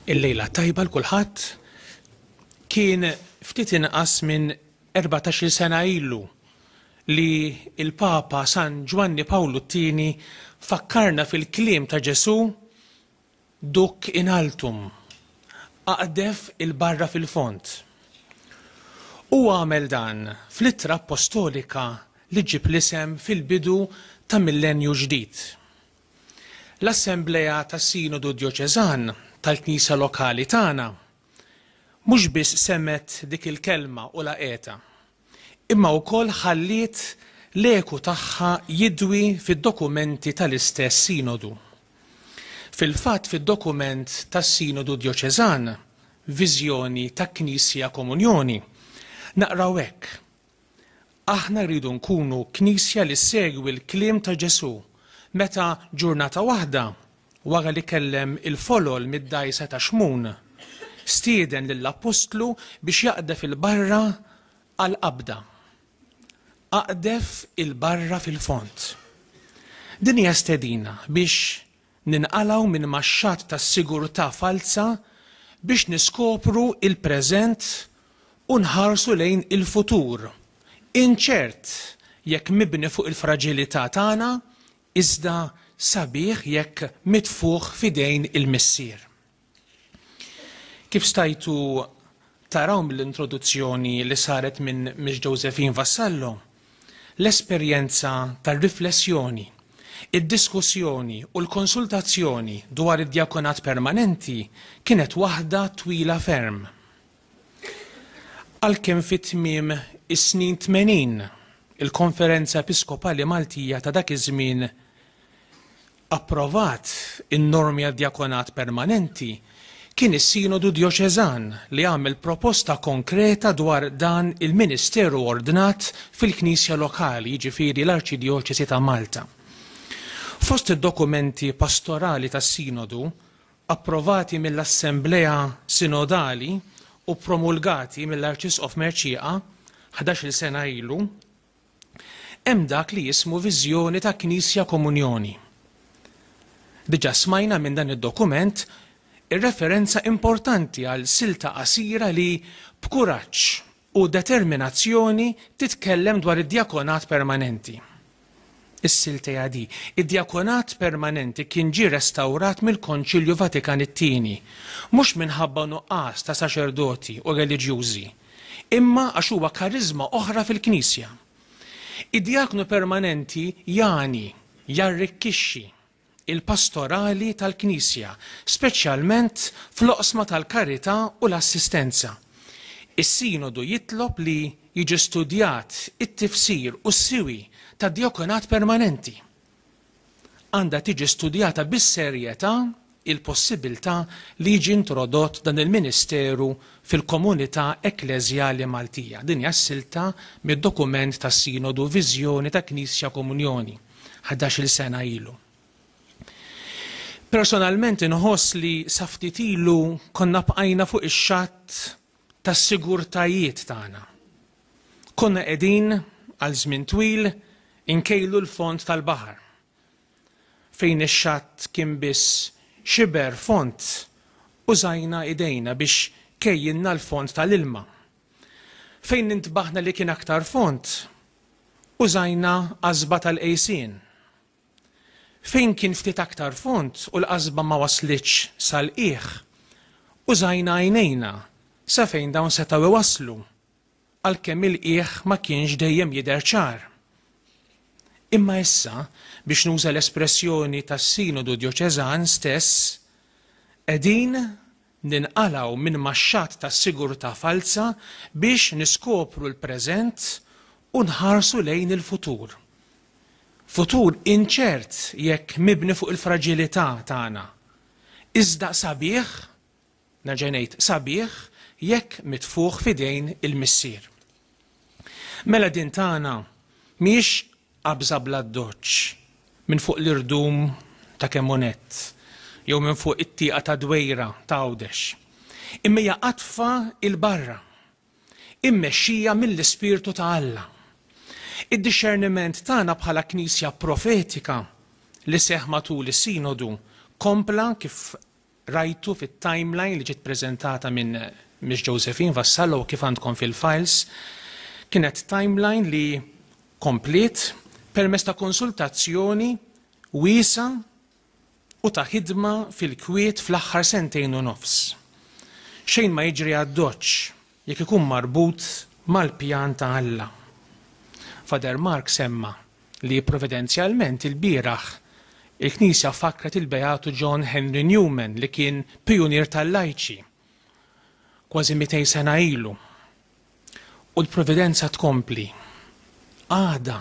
Il-lejla tajba 'l kulħadd. Kien ftit inqas minn erbatax-il sena ilu li l-Papa San Ġwanni Pawlu t-Tieni fakkarna fil-kliem ta' Ġesù, Duc in altum, aqdef 'il barra fil-fond. Huwa għamel dan fl-ittra appostolika li ġġib l-isem fil-bidu ta' Millennju Ġdid. L-Assemblea tas-Sinodu Djoċeżan tal-Knisja lokali tagħna mhux biss semgħet dik il-kelma u laqgħetha, imma wkoll ħalliet l-eku tagħha jidwi fid-dokumenti tal-istess Sinodu. Fil-fatt fid-dokument tas-Sinodu Djoċeżan, Viżjoni ta' Knisja Komunjoni, naqraw hekk, Aħna rridu nkunu Knisja li ssegwi l-kliem ta' Ġesù meta, ġurnata waħda, wara li kellem il-folol mid-dgħajsa ta' Xmun, stieden lill-appostlu biex jaqdef 'il barra għall-qabda. Aqdef 'il barra fil-fond. Din hija stedina biex Ninqalgħu minn maxxat ta' sigurtà falza biex niskopru l-preżent u nħarsu lejn il-futur inċert jekk mibni fuq il-fraġilità tagħna iżda sabiħ jekk mitfugħ f'idejn il-Missier. Kif stajtu taraw mill-introduzzjoni li saret minn Miss Josephine Vassallo, l-esperjenza tar-riflessjoni, id-diskussjoni u l-konsultazzjoni dwar id-djakonat permanenti kienet waħda twila ferm. Għalkemm fi tmiem is-snin tmenin, il-Konferenza Episkopali Maltija ta' dak iż-żmien approvat in-normi għad-djakonat permanenti kien is-Sinodu Djoċeżan li għamel proposta konkreta dwar dan il-ministeru ordnat fil-knisja lokali, jiġifieri l-Arċidjoċesi ta' Malta. Fost id-dokumenti pastorali tas-Sinodu approvati mill-Assemblea Sinodali u ppromulgati mill-Arċisqof Mercieca ħdax-il sena ilu, Hemm dak li jismu viżjoni ta' Knisja Komunjoni. Diġà smajna minn dan id-dokument ir-referenza importanti għal silta qasira li b'kuraġġ u determinazzjoni titkellem dwar id-djakonat permanenti. Is-siltea di, id-djakonat permanenti kien ġie restawrat mill-Konċilju Vatikan it-Tieni, mhux minħabba nuqqas ta' saċerdoti u reliġjużi, imma għax huwa kariżma oħra fil-Knisja. Id-djaknu permanenti jagħni, jarrikkixxi, il-pastorali tal-Knisja, speċjalment fl-oqsma tal-karità u l-assistenza. Is-Sinodu jitlob li jiġi studjat it-tifsir u s-siwi tad-djakunat permanenti. għandha tiġi studjata bis-serjetà l-possibbiltà li jiġi introdott dan il-ministeru fil-komunità ekkleżjali Maltija. Din hija silta mid-dokument tas-Sinodu Viżjoni ta' Knisja Komunjoni, ħdax-il sena ilu. Personalment inħoss li sa ftit ilu konna bqajna fuq ix-xatt tas-sigurtajiet tagħna. Konna qegħdin għal żmien twil inkejlu l-fond tal-baħar. Fejn ix-xatt kien biss xiber fond użajna idejna biex kejjilna l-fond tal-ilma. Fejn intbaħna li kien aktar fond, użajna għażba tal-qejsien. Fejn kien ftit aktar fond u l-qasba ma waslitx sal-qiegħ, użajna għajnejna sa fejn dawn setgħu iwasslu, għalkemm il-qiegħ ma kienx dejjem jidher ċar. Imma issa, biex nuża l-espressjoni tas-Sinodu Djoċeżan stess, qegħdin Ninqalgħu minn max-xatt ta' sigurtà falza biex niskopru l-preżent u nħarsu lejn il-futur. Futur inċert jekk mibni fuq il-fraġilità tagħna, iżda sabiħ, nerġa' ngħid, sabiħ jekk mitfugħ f'idejn il-Missier. Mela din tagħna mhijiex qabża bl-addoċċ minn fuq l-irdum ta' Kemmonet jew minn fuq it-tieqa tad-dwejra ta' Għawdex, imma hija qatfa 'il barra, immexxija mill-Ispirtu ta' Alla. Id-dixxerniment tagħna bħala Knisja profetika li seħħ matul is-Sinodu kompla kif Rajtu fit-timeline li ġiet preżentata minn Miss Josephine Vassallo u kif għandkom fil-files, kienet timeline li kompliet permezz ta' konsultazzjoni wiesgħa u ta' ħidma fil-kwiet fl-aħħar sentejn u nofs. Xejn ma jiġri ad-doċċ, jekk ikun marbut mal-pjan ta' Alla. Father Mark semma li providenzjalment ilbieraħ il-Knisja fakkret il-Beatu John Henry Newman li kien pijunier tal-lajċi kważi mitejn sena ilu. U l-providenza tkompli. Għada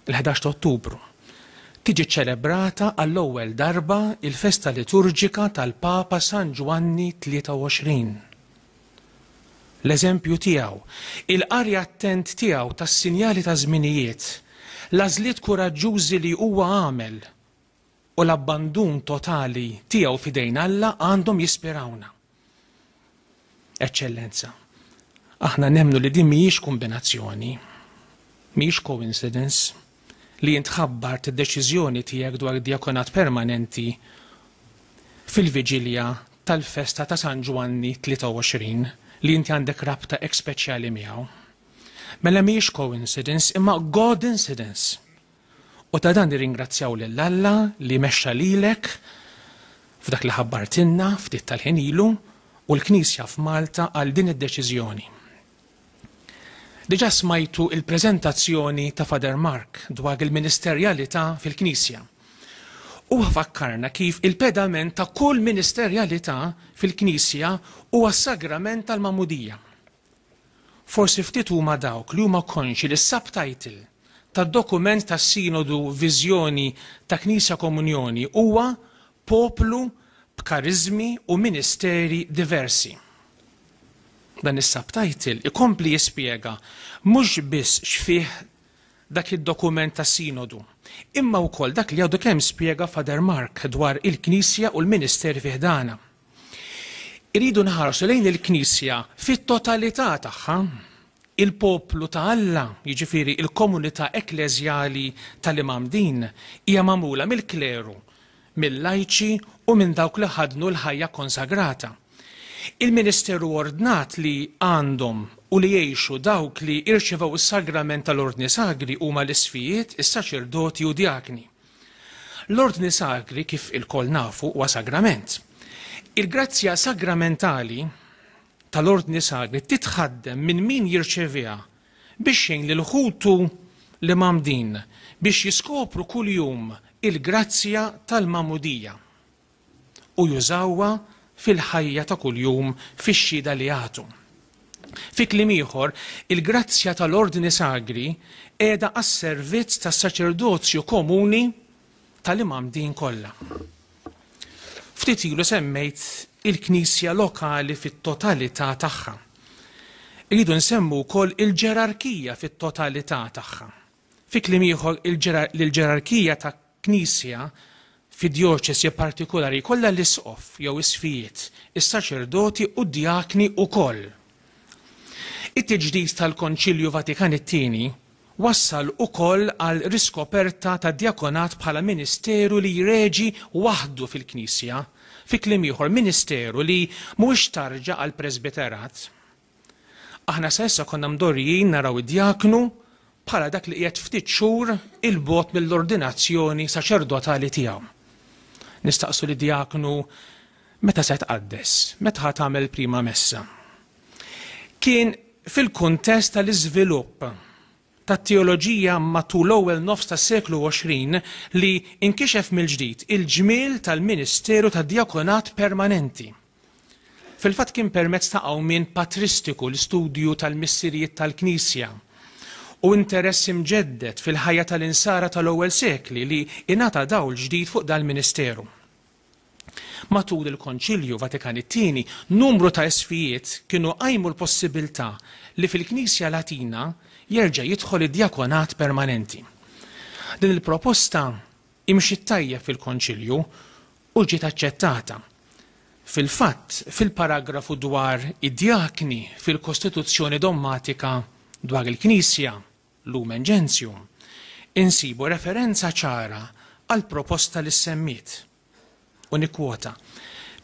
Il-ħdax ta' Ottubru, tiġi ċċelebrata għall-ewwel darba l-festa liturġika tal-Papa San Ġwanni 23. L-eżempju tiegħu, il-qari attent tiegħu tas-sinjali taż-żminijiet, l-għażliet kuraġġużi li huwa għamel u l-abbandun totali tiegħu f'idejn Alla għandhom jispirawna. Eċċellenza, aħna nemmnu li din mhijiex kombinazzjoni, mhijiex coincidence, li int ħabbart id-deċiżjoni tiegħek dwar id-djakonat permanenti fil-viġilja tal-festa ta' San Ġwanni 23 li inti għandek rabta hekk speċjali miegħu. Mela mhijiex coincidence imma God incidence. U ta' dan nirringrazzjaw lil Alla li mexxa lilek f'dak li ħabbartilna ftit tal-ħin ilu u l-Knisja f'Malta għal din id-deċiżjoni. Diġà smajtu l-preżentazzjoni ta' Father Mark dwar il-ministerjalità fil-Knisja. Huwa fakkarna kif il-pedament ta' kull ministerjalità fil-Knisja huwa s-sagrament tal-magħmudija. Forsi ftit huma dawk li huma konxji li s-subtitle tad-dokument tas-Sinodu Viżjoni ta' Knisja Komunjoni huwa Poplu b'Kariżmi u Ministeri Diversi. Dan is-subtitle ikompli jispjega mhux biss x'fih dak id-dokument tas-Sinodu, imma wkoll dak li għadu kemm spjega Father Mark dwar il-Knisja u l-ministeri fi ħdanha. Irridu nħarsu lejn il-Knisja fit-totalità tagħha, il-poplu ta' Alla, jiġifieri l-komunità ekkleżjali tal-Imam Din hija magħmula mill-kleru, mil-lajċi u minn dawk li ħaddnu l-ħajja konsagrata. Il-ministeru ordnat li għandhom u li jgħixu dawk li irċevew is-sagrament tal-Ordni Sagri huma l-isfijiet, is-saċerdoti u djakni. L-Ordni Sagri, kif ilkoll nafu, huwa sagrament. Il-grazzja sagramentali tal-Ordni Sagri titħaddem minn min jirċeviha biex jgħin lil ħutu li mgħammdin biex jiskopru kuljum il-grazzja tal-magħmudija. u jużawha fil-ħajja ta' kuljum fix-xhieda li jagħtu. Fi kliem ieħor, il-grazzja tal-Ordni Sagri qiegħda għas-servizz tas-saċerdozju komuni tal-imgħammdin kollha. Ftit ilu semmejt il-Knisja lokali fit-totalità tagħha. Irridu nsemmu wkoll il-ġerarkija fit-totalità tagħha. Fi kliem ieħor, il-ġerarkija ta' Knisja fi djoċesi partikulari jkollha l-isqof jew isqfijiet, is-saċerdoti u d-djakni wkoll. It-tiġdid tal-Konċilju Vatikan it-Tieni wassal ukoll għal riskoperta tad-djakonat bħala ministeru li jreġi waħdu fil-Knisja, fi kliem ieħor, ministeru li mhuwiex tarġa għall-presbiterat. Aħna sa issa konna mdorrijin naraw id-djaknu bħala dak li qiegħed ftit xhur 'il bogħod mill-ordinazzjoni saċerdotali tiegħu. Nistaqsu lid-djaknu, Meta se tqaddes? Meta ħa tagħmel prima messa? Kien fil-kuntest tal-iżvilupp tat-teoloġija matul l-ewwel nofs tas-seklu 20 li inkixef mill-ġdid il-ġmiel tal-ministeru tad-djakonat permanenti. Fil-fatt kien permezz ta' qawmien patristiku l-istudju tal-missirijiet tal-Knisja u interess imġedded fil-ħajja tal-Insara tal-ewwel sekli li ingħata dawl ġdid fuq dal-ministeru. Matul il-Konċilju Vatikan it-Tieni, numru ta' isfijiet kienu qajmu l-possibilità li fil-Knisja Latina jerġa' jidħol id-djakonat permanenti. Din il-proposta imxiet tajjeb fil-Konċilju u ġiet aċċettata. Fil-fatt, fil-paragrafu dwar id-djakni fil-Kostituzzjoni Dommatika dwar il-Knisja, Lumen Gentium, insibu referenza ċara għall-proposta li ssemmiet, u nikkwota,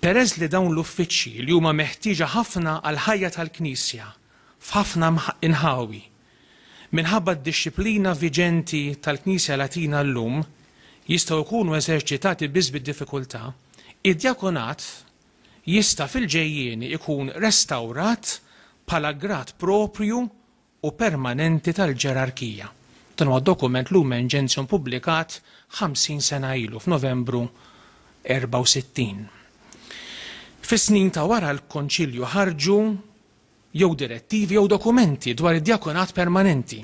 Peress li dawn l-uffiċċji li huma meħtieġa ħafna għall-ħajja tal-Knisja f'ħafna inħawi Minħabba d-dixxiplina viġenti tal-Knisja Latina llum, jistgħu jkunu eżerċitati biss bi diffikultà, id-djakonat jista' fil-ġejjieni jkun restawrat bħala grad proprju u permanenti tal-ġerarkija. Dan huwa dokument Lumen Gentium pubblikat 50 sena ilu, f'Novembru 64. Fis-snin ta' wara l-Konċilju ħarġu, jew direttivi jew dokumenti dwar id-djakonat permanenti,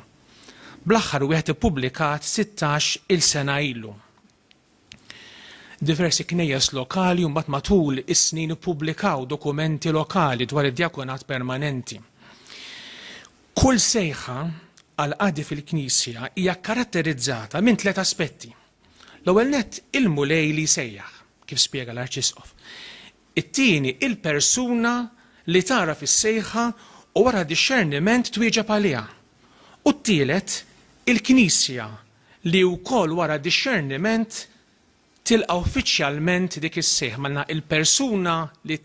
bl-aħħar wieħed ippubblikat sittax il sena ilu. Diversi knejjes lokali mbagħad matul is-snin ippubblikaw dokumenti lokali dwar id-djakonat permanenti. Kull sejħa għal qadi fil-Knisja hija kkaratterizzata minn tliet aspetti. L-ewwel nett il-Mulej li jsejjaħ, kif spjega l-Arċisqof. It-tieni, il-persuna li tagħraf is-sejħa u wara dixxerniment twieġeb għaliha. U t-tielet, il-Knisja li wkoll wara dixxerniment tilqa' uffiċjalment dik is-sejħa. Mela għandna il-persuna li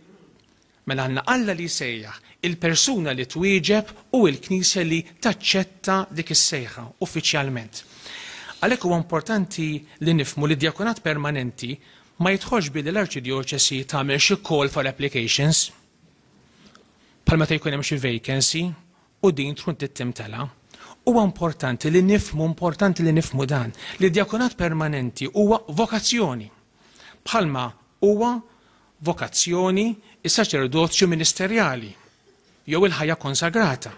Mela għandna Alla li jsejjaħ, il-persuna li twieġeb u l-Knisja li taċċetta dik is-sejħa uffiċjalment. Għalhekk huwa importanti li nifhmu li d-djakonat permanenti Ma jidħolx billi l-Arċidjoċesi tagħmel xi call for applications bħal meta jkun hemm xi vacancy u din tkun trid timtela. Huwa importanti li nifhmu, importanti li nifhmu dan, li d-djakunat permanenti huwa vokazzjoni. Bħalma huwa vokazzjoni is-saċerdozju ministerjali jew il-ħajja konsagrata.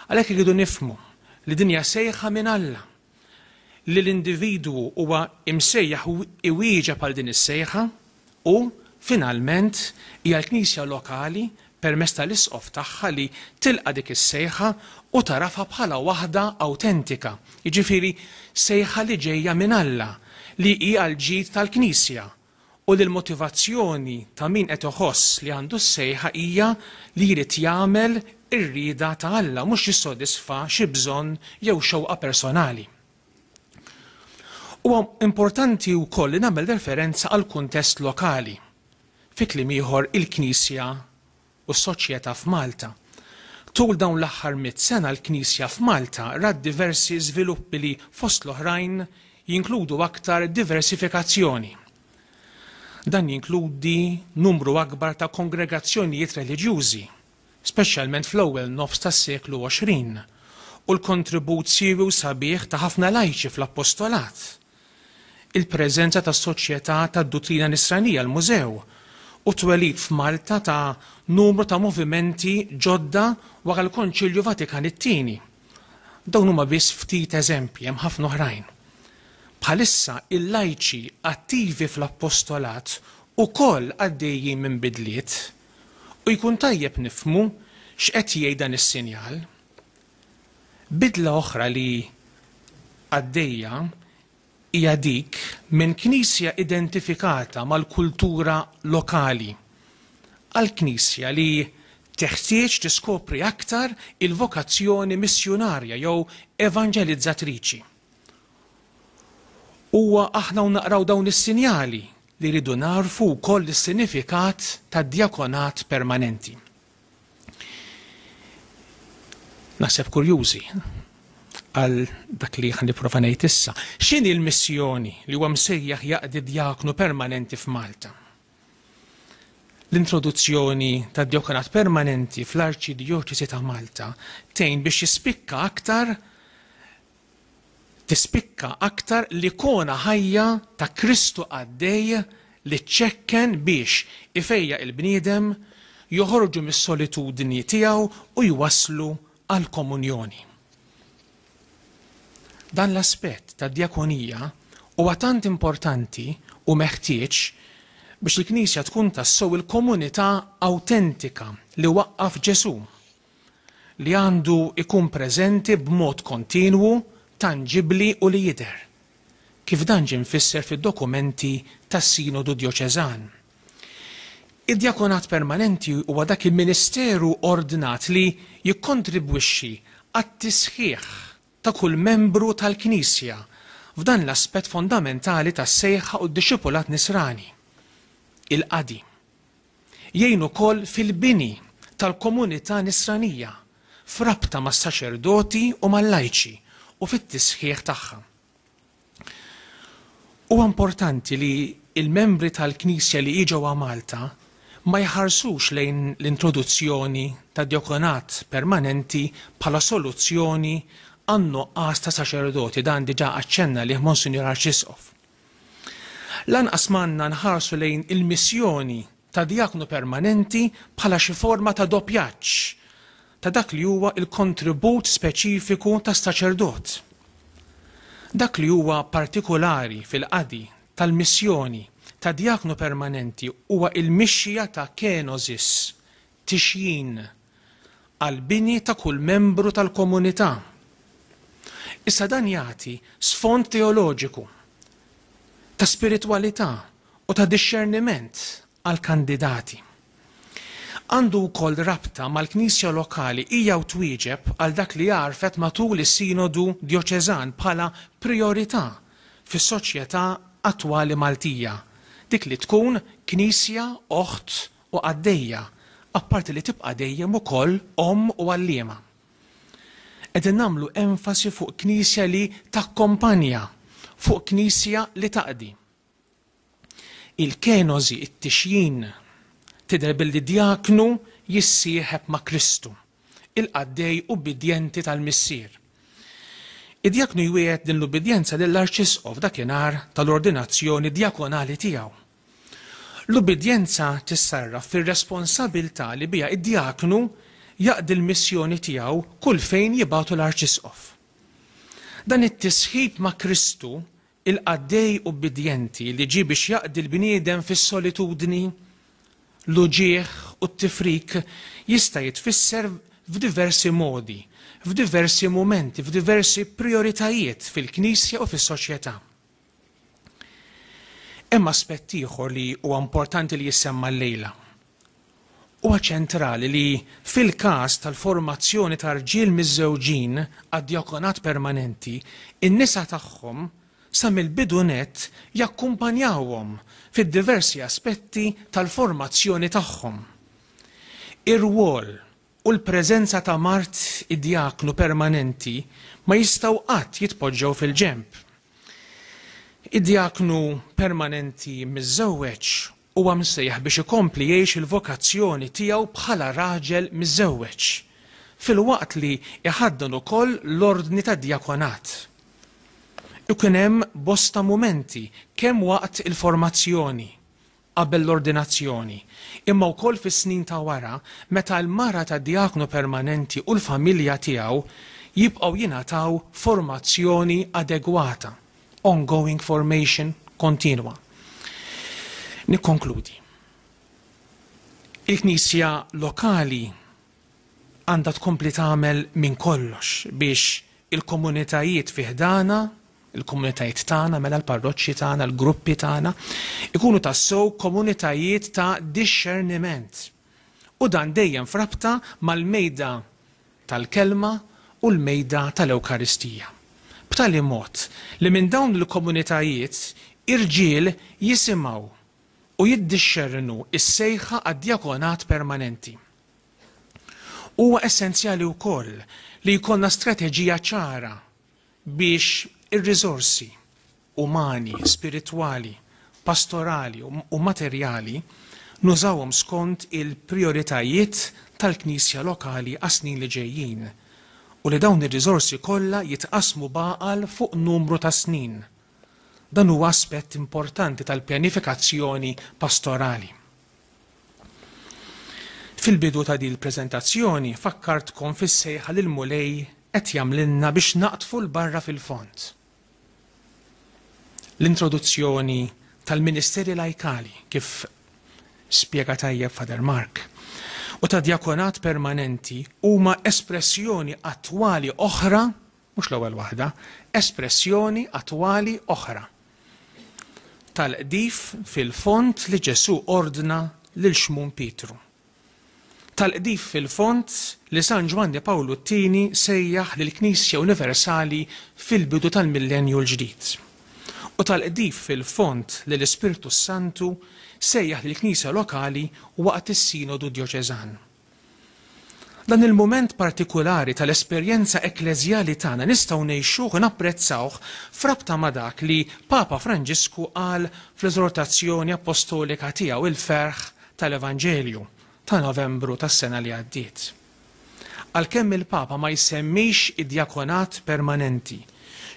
Għalhekk irridu nifhmu li din hija sejħa minn Alla li l-individwu huwa msejjaħ iwieġeb għal din is-sejħa u, finalment, hija l-Knisja lokali, permezz tal-Isqof tagħha, li tilqa' dik is-sejħa u tagħrafha bħala waħda awtentika, jiġifieri sejħa li ġejja minn Alla, li hi għall-ġid tal-Knisja. u li l-motivazzjoni ta' min qed iħoss li għandu s-sejħa hija li jrid jagħmel ir-rieda ta' Alla, mhux jissodisfa xi bżonn jew xewqa personali. Huwa importanti wkoll li nagħmel referenza għall-kuntest lokali, fi kliem ieħor il-Knisja u s-soċjetà f'Malta. Tul dawn l-aħħar mitt sena l-Knisja f'Malta rat diversi żviluppi li, fost l-oħrajn, jinkludu aktar diversifikazzjoni. Dan jinkludi numru akbar ta' kongregazzjonijiet reliġjużi, speċjalment fl-ewwel nofs tas-seklu 20, u l-kontribut siewi u sabiħ ta' ħafna lajċi fl-appostolat. il-preżenza ta' Soċjetà tad-Duttrina Nisranija, l-Mużew, u t-twelid f'Malta ta' numru ta' movimenti ġodda wara l-Konċilju Vatikan it-Tieni. Dawn huma biss ftit eżempji, hemm ħafna oħrajn. Bħalissa, il-lajċi attivi fl-Appostolat ukoll għaddejjin minn bidliet, u jkun tajjeb nifhmu x'qed jgħid dan is-sinjal. Bidla oħra li għaddejja hija dik minn knisja identifikata mal-kultura lokali għal knisja li teħtieġ tiskopri aktar il-vokazzjoni missjunarja jew evanġelizzatriċi. Huwa aħna u naqraw dawn is-sinjali li rridu nagħrfu wkoll is-sinifikat tad-djakonat permanenti. Naħseb kurjużi għal dak li ħan niprofa ngħid issa. X'inhi l-missjoni li huwa msejjaħ jaqdi djaknu permanenti f'Malta? L-introduzzjoni ta' djokanat permanenti fl-Arċidjoċesi ta' Malta tgħin biex jispikka aktar tispikka aktar l-ikona ħajja ta' Kristu qaddej li ċċekken biex ifejjaq il-bniedem, joħorġu mis-solitudni tiegħu u jwasslu għall-komunjoni. Dan l-aspett tad-djakonija huwa tant importanti u meħtieġ biex il-Knisja tkun tassew il-komunità awtentika li waqqaf Ġesù. li għandu jkun preżenti b'mod kontinwu, tanġibbli u li jidher, kif dan ġie mfisser fid-dokumenti tas-Sinodu Djoċeżan. Id-djakonat permanenti huwa dak il-ministeru ordnat li jikkontribwixxi għat-tisħiħ ta' kull membru tal-Knisja f'dan l-aspett fondamentali tas-sejħa u d-dixxipulat nisrani, il-qadi. Jgħin ukoll fil-bini tal-komunità Nisranija f'rabta mas-saċerdoti u mal-lajċi u fit-tisħiħ tagħha. Huwa importanti li l-membri tal-Knisja li jiġewha Malta ma jħarsux lejn l-introduzzjoni tad-djakonat permanenti bħala soluzzjoni għan-nuqqas ta' saċerdoti, dan diġà aċċenna għalih Monsinjur Arċisqof. Lanqas m'għandna nħarsu lejn il-missjoni ta' djaknu permanenti bħala xi forma ta' doppjaġġ ta' dak li huwa l-kontribut speċifiku ta' saċerdot. Dak li huwa partikulari fil-qadi tal-missjoni ta' djaknu permanenti huwa l-mixja ta' kenosis, tixjin għall-bini ta' kull membru tal-komunità. Issa dan jagħti sfond teoloġiku, ta' spiritwalità u ta' dixxerniment għall-kandidati. Għandu wkoll rabta mal-Knisja lokali hija u twieġeb għal dak li għarfet matul is-Sinodu Djoċeżan bħala prijorità fis-soċjetà attwali Maltija, dik li tkun Knisja oħt u qaddejja, apparti li tibqa' dejjem ukoll omm u għalliema. Qegħdin nagħmlu enfasi fuq Knisja li takkompanja, fuq Knisja li taqdi. Il-kenożi, it-tixjin, tidher billi djaknu jissieħeb ma' Kristu, il-qaddej ubbidjenti tal-Missier. Id-djaknu jwiegħed din l-ubbidjenza lill-arċisqof dakinhar tal-ordinazzjoni djakonali tiegħu, L-ubbidjenza tissarraf fir-responsabilità li biha d-djaknu jaqdi l-missjoni tiegħu kull fejn jibgħatu l-arċisqof. Dan it-tisħib ma' Kristu, il-qaddej ubbidjenti li ġie biex jaqdi l-bniedem fis-solitudni, l-uġigħ u t-tifrik, jista' jitfisser f'diversi modi, f'diversi mumenti, f'diversi prijoritajiet fil-Knisja u fis-soċjetà. Hemm aspett ieħor li huwa importanti li jissemma llejla. Huwa ċentrali li, fil-każ tal-formazzjoni ta' rġiel miżżewġin għad-djakonat permanenti, in-nisa tagħhom sa mill-bidu nett jakkumpanjawhom fid-diversi aspetti tal-formazzjoni tagħhom. Ir-rwol u l-preżenza ta' mard id-djaknu permanenti ma jistgħu qatt jitpoġġew fil-ġenb. Id-djaknu permanenti miżżewweġ huwa msejjaħ biex ikompli jgħix il-vokazzjoni tiegħu bħala raġel miżżewweġ, filwaqt li jħaddan ukoll l-ordni tad-djakonat. Ikun hemm bosta mumenti kemm waqt il-formazzjoni qabel l-ordinazzjoni, imma wkoll fis-snin ta' wara meta l-mara tad-djaknu permanenti u l-familja tiegħu jibqgħu jingħataw formazzjoni adegwata, ongoing formation, kontinwa. Nikkonkludi. Il-Knisja lokali għandha tkompli tagħmel minn kollox biex il-komunitajiet fi ħdanha, il-komunitajiet tagħna, mela l-parroċċi tagħna, l-gruppi tagħna, ikunu tassew komunitajiet ta' dixxerniment. U dan dejjem f'rabta mal-mejda tal-Kelma u l-mejda tal-Ewkaristija. B'tali mod li minn dawn il-komunitajiet irġiel jisimgħu u jiddixxernu s-sejħa għad-djakonat permanenti. Huwa essenzjali wkoll li jkollna strateġija ċara biex ir-riżorsi umani, spiritwali, pastorali u materjali nużawhom skont il-prijoritajiet tal-Knisja lokali għas-snin li ġejjin u li dawn ir-riżorsi kollha jitqassmu b'għaqal fuq numru ta' snin. Dan huwa aspett importanti tal-pjanifikazzjoni pastorali. Fil-bidu ta' din il-preżentazzjoni fakkartkom fis-sejħa li l-Mulej qed jagħmlilna biex naqdfu 'l barra fil-fond. L-introduzzjoni tal-ministeri lajkali, kif spjega tajjeb Father Mark, u tad-djakonat permanenti huma espressjoni attwali oħra mhux l-ewwel waħda, espressjoni attwali oħra tal-qdif fil-fond li Ġesù ordna lil Xmun Pietru. Tal-qdif fil-fond li San Ġwanni Pawlu t-Tieni sejjaħ lill-Knisja Universali fil-bidu tal-Millennju l-Ġdid. U tal-qdif fil-fond li l-Ispirtu s-Santu sejjaħ lill-Knisja lokali waqt is-Sinodu Djoċeżan. Dan il-mument partikulari tal-esperjenza ekkleżjali tagħna nistgħu ngħixuh u napprezzawh f'rabta ma' dak li Papa Franġisku qal fl-Eżortazzjoni Appostolika tiegħu Il-Ferħ tal-Evanġelju ta' Novembru tas-sena li għaddiet. Għalkemm il-Papa ma jsemmix id-djakonat permanenti,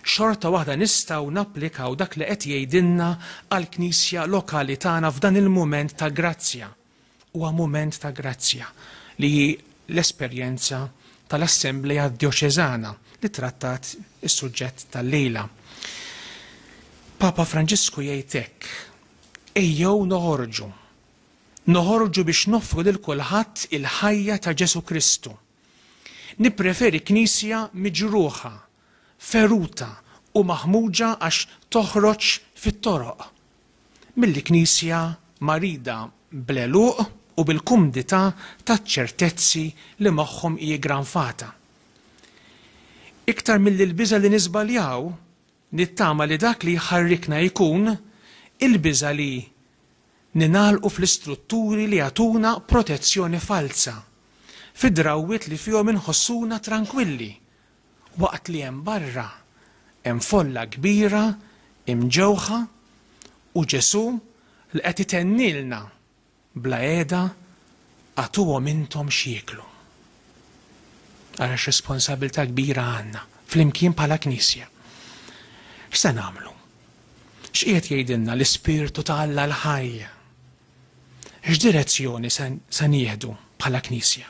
xorta waħda nistgħu napplikaw dak li qed jgħidilna għall-Knisja lokali tagħna f'dan il-mument ta' grazzja, Huwa mument ta' grazzja li hi l-esperjenza tal-Assemblea Djoċeżana li trattat is-suġġett tal-lejla. Papa Franġisku jgħid hekk, Ejjew noħorġu. Noħorġu biex noffru lil kulħadd il-ħajja ta' Ġesù Kristu. Nippreferi Knisja miġruħa, feruta u maħmuġa għax toħroġ fit-toroq mill-Knisja marida bl-għeluq u bil-kumdità taċ-ċertezzi li magħhom hi ggranfata. Iktar milli l-biża' li niżbaljaw, nittama li dak li jħarrikna jkun il-biża' li ningħalqu fl-istrutturi li jagħtuna protezzjoni falza, fid-drawwiet li fihom inħossuna trankwilli Waqt li hemm barra hemm folla kbira imġewħa u Ġesù li qed itennilna bla qiegħda, Agħtuhom intom x'jieklu. Ara x'responsabbiltà kbira għandna flimkien bħala Knisja. X'se nagħmlu? X'qiegħed jgħidilna l-Ispirtu ta' Alla l-ħaj? X'direzzjoni se nieħdu bħala Knisja?